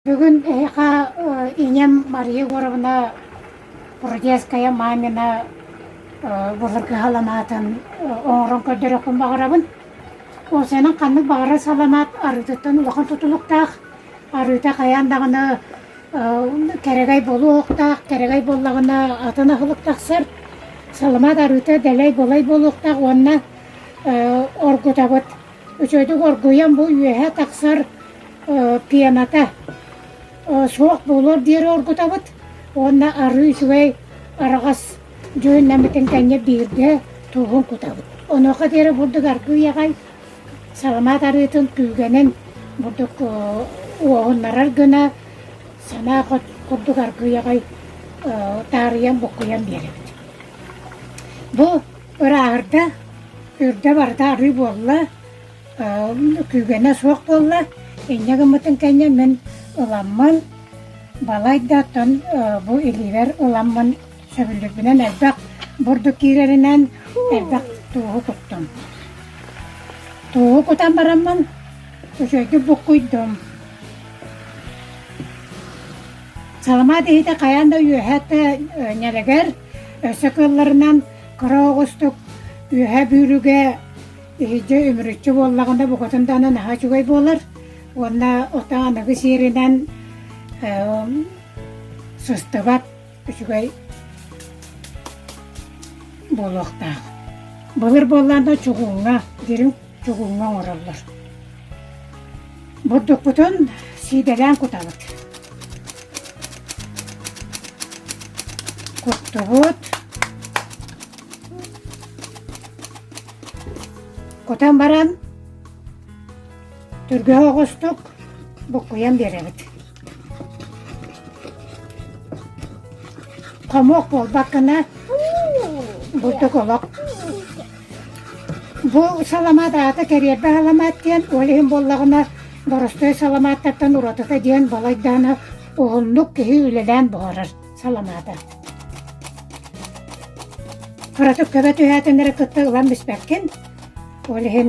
Бүгүн эһиэхэ ийэм Мария Егоровна Прудецкая мамина былыргыһаланаатын оҥорон көрдөрүөхпүн баҕарабын. Ол сенен ханнык баҕарар саламаат арыытыттан улахан тутулуктаах. Арыыта хайаан даҕаны кэрэгэй болуохтаах, кэрэгэй буоллаҕына атын аһылык тахсар. Саламаат арыыта дэлэй-болай буолуохтаах уонна оргутабыт. Үчүгэйдик оргуйан бу үөһэ тахсар пената суох буолуор диэри оргутабыт уонна арыы үчүгэй араҕас дьүһүннэммитин тэҥҥэ биирдэ тууһун кутабыт. Онуоха диэри бурдук аргыы аҕай саламаат арыытын күүгэнин бурдук уоһуннарар гына санаа курдук аргыы аҕай таарыйан буккуйан биэрэбит. Бу Ырааҕырда, үрдэ барыта арыы буолла, күүгэнэ суох буолла. Инньэ гыммытын кэннэ мин ыламмын, балай да оттон бу илиибэр ыламмын сөбүлүүрбүнэн элбэх бурдук киирэринэн элбэх тууһу куттум. Тууһу кутан бараммын үчүгэйдик буккуйдум. Саламаат иһитэ хайаан да үөһэ да нэлэгэр Өссө кыалларынан кыра оҕустук үөһэ бүүрүгэ иһирдьэ үмүрүччү буоллаҕына букатын даҕаны наһаа үчүгэй буолар уонна отаан аныгы сиэринэн сыстыбат үчүгэй буолуохтаах. Былыр буоллаанда чугууҥҥа дириҥ чугуҥҥа оҥороллор. Бурдукпутун сиидэлээн кутабыт. Куттубут. Кутан баран түргөһө оҕустук буккуйан биэрэбит. Хомуок буолбаккына, бурдук олох. Бу саламат аата кэриэрбэ саламат диэн, ол иһин буоллаҕына, боростуой саламааттартан уратыта диэн балайдаана уһуннук киһи үлэлээн буһарар саламаата. Кыратык көбө түһээтиннэри кытта ылан испэккин, ол иһин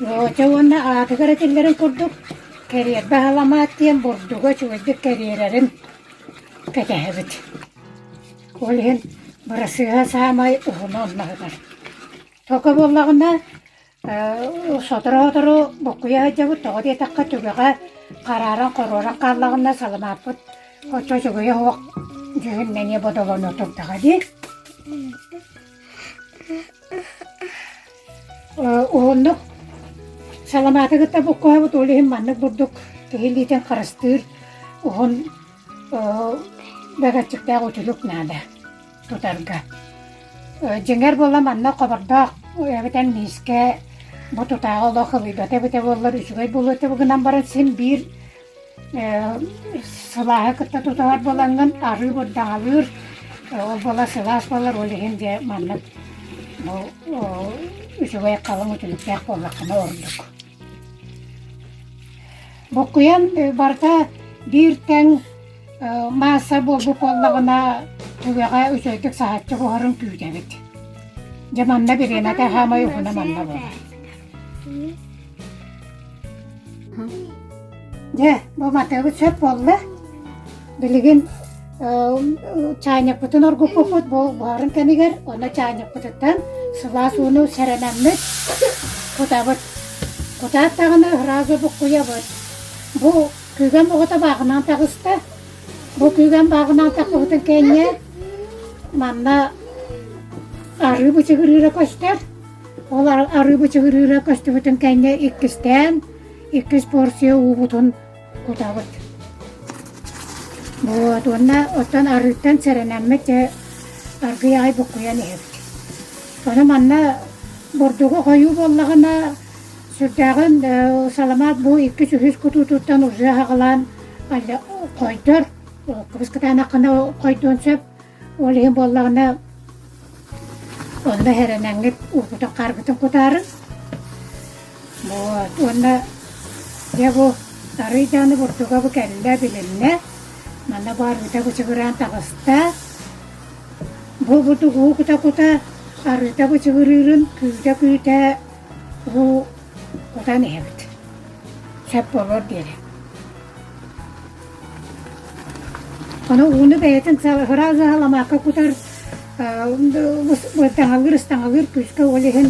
Володя уонна аатыгар этиллэрин курдук, кэриэрбэ аһаламаат диэн бурдуга үчүгэйдик кэриэрэрин кэтэһэбит. Ол иһин бырасыыһа саамай уһуна онноһунар. Токо буоллаҕына, Сотору-сотору буккуйа сылдьабыт, тоҕо диэтэххэ түгэҕэ харааран хоруоран хааллаҕына саламааппыт оччо үчүгэй оһуох дьүһүн эмиэ бодолоно турдаҕа дии. Уһуннук саламааты кытта буккуһабыт, ол иһин маннык бурдук киһи илиитин харыстыыр уһун бөҕөччүктээх үтүлүк наада. тутарга. Дьиҥэр буола манна хобордоох эбэтэр миискэ бу тутааҕы олох ылыйбата эбитэ буоллар үчүгэй буолуо этэ гынан баран син биир сылааһы кытта тутуһар буолаҥҥын арыы бурдаҥалыыр ол буола сылаас буолар ол иһин дьэ маннык бу үчүгэй халыҥ үтүлүктээх буоллаххына ордук Бокуйан барыта биир тэҥ маасса буолбут буоллаҕына, түгэҕэ үчүгэйдик саһааччы буһарын күүтэбит. Дьэ манна бириэмэтэ хаамай уһуна манна буолар. Дьэ, бу матыыбыт сөп буолла. Билигин чаанньыкпытын оргуппуппут буһарын кэмигэр онно чаанньыкпытыттан сылаас ууну сэрэнэммит кутабыт. Кутаат даҕаны ыраазы буккуйабыт. Бу күүгэн оҕото бааҕынан таҕыста. Бу күүгэн бааҕынан такпыбытын кэннэ манна арыы бычыгырыыра көстөр. Ол арыы бычыгырыыра көстүбүтүн кэннэ иккистээн иккис порция уубутун кутабыт. Вот уонна оттон арыыттан сэрэнэммит дьэ аргый аай буккуйан иһэбит. Ону манна бурдугу хойуу буоллаҕына сүрдээҕин саламаат бу иккис үһүс кутуутуттан уже аҕалаан койдор кыбыскытаанаххына хойдуон сөп Ол иһин буоллаҕына онно эрэнэҥҥит уурбутун хаарбытын кутаары вот уонна дьэ бу арый дааны бурдуга бу кэллэ билиннэ манна баарыыта бычыгыраан таҕыста бу будугу кута-кута арыыта бычыгырыырын күүтэ-күүтэ бу кутан иһэбит сөп буолуор диэри Ону ууну бэйэтин ыһыраҕы ыһаламаакка кутар ыстаҥалыыр күүскэ ол иһин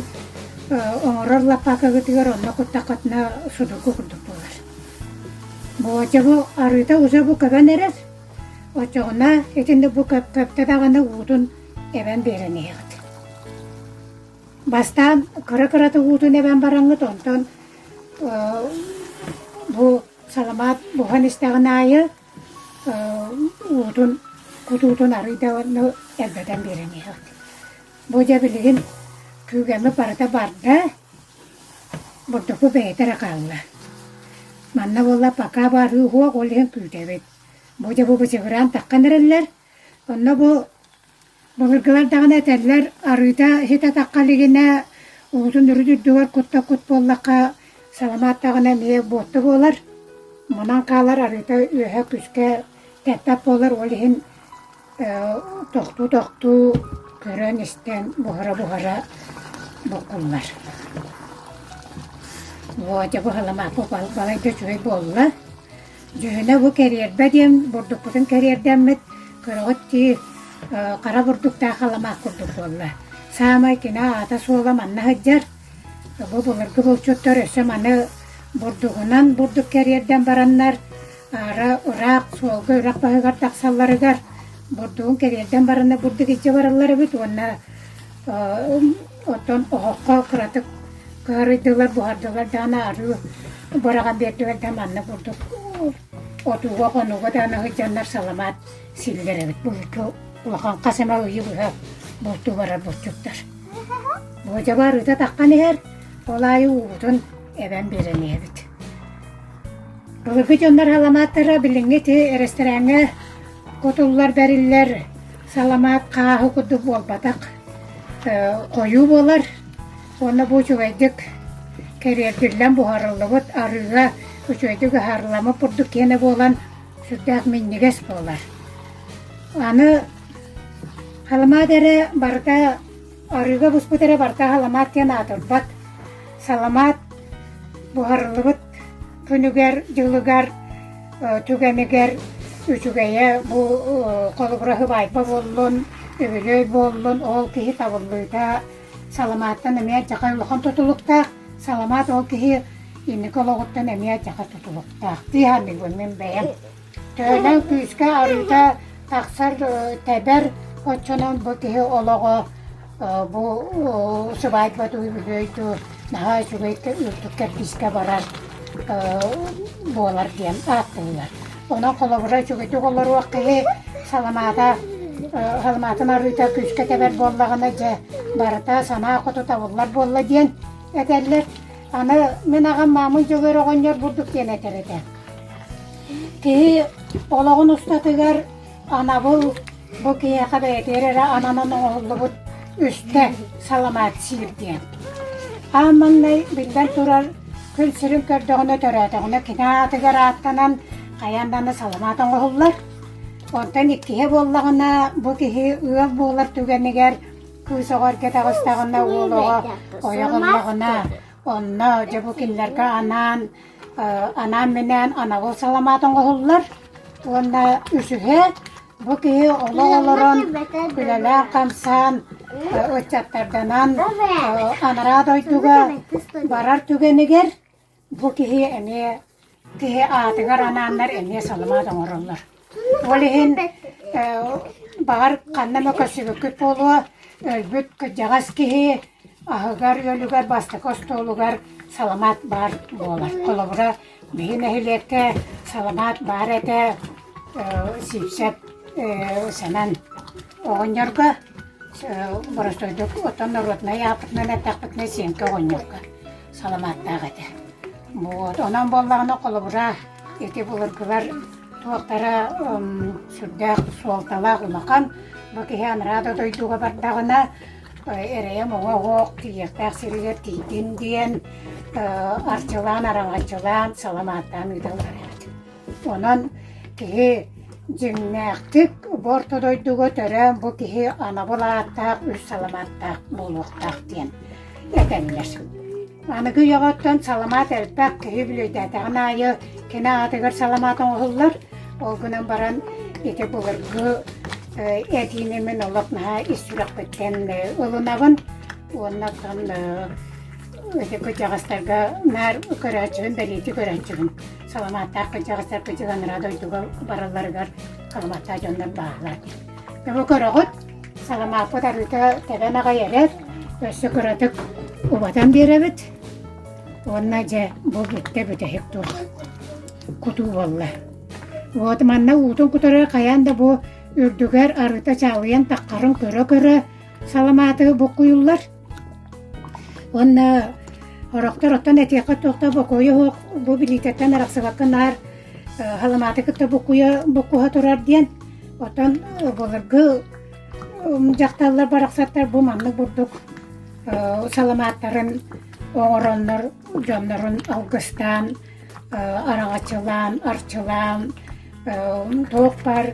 оҥорор лаппаакыгытыгар онно куттаххытына судургу курдук буолар. Боодьа бу арыыта уза бу көбөн эрэр, оччоҕуна итинник бу көптө даҕаны уутун эбэн биэрэн иһэҕит. Бастаан кыра-кырата уутун эбэн бараҥҥыт, онтон бу Саламаат буһан истэҕин аайы уутун, кутуутун арыый да элбэтэн биэрэн иһэҕит. Бу дьэ билигин күүгэммит барыта барда, бурдуку бэйэтэ эрэ хаалла. Манна буолла пока баарыы уһуох, ол иһин күүтэбит. Бу дьэ бу бычыгыраан таххан эрэллэр, онно бу Былыргылар даҕаны этэллэр, арыыта сит атахха илигинэ, уутун үрүт үрдүгэр кутта-кут буоллахха, саламаат даҕаны эмиэ буотта буолар. Манан хаалар арыыта үөһэ күскэ тэппэт буолар, ол иһин тохтуу-тохтуу, көрөн-истэн буһара-буһара буккуллар. Володя бу саламаат балайда үчүгэй буолла. Дьүһүнэ бу кэриэрбэ диэн бурдукпутун кэриэрдэммит, кыраҕыт дии, хара бурдуктаах аламаах курдук буолла. Саамай кини аата-суола манна сылдьар. Бу былыргы булчуттар өссө маны бурдугунан бурдук кэриэрдэн бараннар, аара ыраах суолга үрэх баһыгар тахсалларыгар бурдугун кэриэрдэн бараннар бурдук илдьэ бараллар эбит уонна Оттон оһоххо кыратык кыһарыйдылар, буһардылар даҕаны арыы быраҕан биэрдилэр да манна курдук отууга-хонууга даҕаны сылдьаннар саламаат сииллэр эбит. Булчу улахан хас эмэ ыйы быһа бултуу барар булчуттар. Буодьаба арыыта таххан иһэр, ол аайы уутун эбэн биэрэн иһэбит. Былыргы дьоннор саламааттара билиҥҥи ити эрэстэрээҥҥэ кутуллар, бэриллэр Саламаат хааһы курдук буолбатах, хойуу буолар уонна бу үчүгэйдик кэриэрдиллэн буһарыллыбыт арыыга үчүгэйдик ыһарыламмыт курдук киэнэ буолан сүрдээх минньигэс буолар. Аны халымаат эрэ барыта Арыыга буспут эрэ барыта саламаат диэн аатырбат. Саламаат буһарыллыбыт күнүгэр-дьылыгар, түгэнигэр үчүгэйэ бу холобураһы баайба буоллун, үбүлүөй буоллун, ол киһи табыллыыта саламааттан эмиэ адьака улахан тутулуктаах. Саламаат ол киһи инники олоҕуттан эмиэ адьака тутулуктаах. Дии саныыбын мин бэйэм. Төһөнөн күүскэ арыыта тахсар, тэбэр, оччонон бу киһи олоҕо бу усулуобуйа үбүлүөйдүү наһаа үчүгэйдик үрдүк кэрдиискэ барар буолар диэн ааттыыллар. Онон холобура үчүгэйдик олоруох киһи саламаата саламаатын арыыта күүскэ тэбэр буоллаҕына дьэ барыта санаа хоту табыллар буолла диэн этэллэр. Аны мин аҕам Маамый Дьөгүөр оҕонньор бурдук диэн этэр этэ. Киһи олоҕун устатыгар анабыл бу киһиэхэ бэйэтигэр эрэ ананан оҥоһуллубут үстэ саламаат сиир диэн. Аан маҥнай, биллэн турар, күн сирин көрдөҕүнэ, төрөөтөҕүнэ кини аатыгар ааттанан хайаан даҕаны саламаат оҥоһуллар. Онтон иккиһэ буоллаҕына, бу киһи ыал буолар түгэнигэр Кыыс оҕор кэтэҕистэҕинэ уолуҕа ойоҕуннаҕына, онно дьэ бу кинилэргэ анаан анаан-минээн анаҕыл саламаатын оҥоһуллар уонна үсүһэ бу киһи олох олорон күлэлээн-хамсаан ыччаттарданан анараа дойдуга барар түгэнигэр Бу киһи эмиэ киһи аатыгар анааннар эмиэ саламаат оҥороллор. Ол иһин ээ баҕар ханна эмэ көрсүбүккүт буолуо, өлбүт кырдьаҕас киһи аһыгар-үөлүгэр бастакы остуолугар саламаат баар буолар. Холобура, биһи нэһилиэккэ саламаат баар этэ ээ сиипсэп ээ Сэмэн оҕонньорго ээ боростуойдук оттон норуодунай ааппытынан эттэхпитинэ Сиэҥкэ оҕонньорго. саламааттаах этэ. Вот, онон буоллаҕына холобура, ити былыргылар туохтара сүрдээх суолталаах улахан. Бу киһи анараа дойдуга бардаҕына, эрэйэм оҕо-оҕо тиийиэхтээх сиригэр тиийдин диэн арчылаан, араҥаччылаан, саламааттаан ыыталлар эбит. Онон киһи дьиҥнээхтик бу орто дойдуга төрөөн бу киһи анабыл ааттаах үс саламааттаах буолуохтаах диэн этэллэр. Аныгы үйэҕиттэн саламаат элбэх киһи билиэтээтэҕин аайы кини аатыгар саламаат оҥоһуллар. Ол гынан баран ити былыргы этиини мин олох наһаа ис сүрэхпиттэн ылынабын уоннаттан ити кырдьаҕастарга наар көрөөччүбүн бэлиэтии көрөөччүбүн саламааттаах кырдьаҕастар кыдьыганнара дойдуга баралларыгар саламааттаах дьоннор бааллар. Бу көрөҕүт, саламааппыт арыыта тэбэн аҕайэрэр, өссө кыратык убатан биэрэбит. Уонна дьэ бу бүттэ бүтэһик туох кутуу буолла. Вот манна уутун кутары хайаан да бу үрдүгэр арыыта чаалыйан таххарын көрө-көрө саламааты буккуйуллар. Уонна орохтор оттон этиэххэ туох да бокуойа суох бу билиитэттэн арахсыбакка наар Халымааты кытта буккуйа буккуһа турар диэн оттон былыргы дьахталлар барахсаттар бу маннык бурдук саламааттарын оҥороннор дьоннорун алгыстаан араҥаччылаан, арчылаан туох баар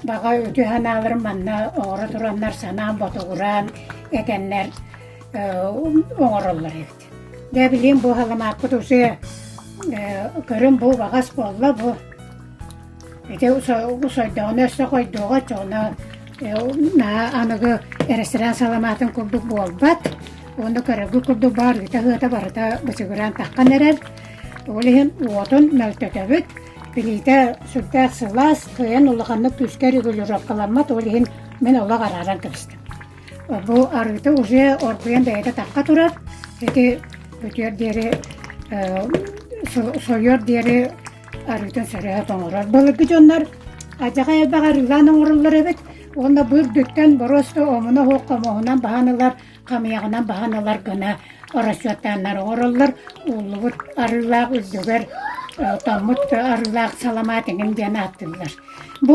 баҕа үтүө санааларын манна оҥоро тураннар санаан ботугураан этэннэр оҥороллор эбит. Дьэ билигин бу халымааппыт усуйа көрүҥ бу убаҕас буолла бу Ити сойдоҕуна өссө хойдуоҕа оччоҕуна наһаа аныгы ресторан саламаатын курдук буолбат. Уонна көрөргүт курдук баарыта-сыата барыта бычыгыраан таххан эрэр. Ол иһин уотун мөлтөтөбүт. Билиитэ сүрдээх сылаас, кыайан улаханнык күүскэ регулировкаламмат. Ол иһин мин олох арааран кэбистим Бу арыыты уже оргуйан бэйэтэ тахха турар. Ити бүтүөр диэри сойуор диэри арыытын сөрөһө тоҥорор былыргы дьоннор адьаҕа элбэх арыылаан оҥороллор эбит уонна бу үрдүттэн боруосту омуна оһуох хомоһунан баһан ылар хамыйаҕынан баһан ылар гына расчеттааннар оҥороллор ууллубут арыылаах үрдүгэр тоҥмут арыылаах саламаат эҥин диэн ааттыыллар. Бу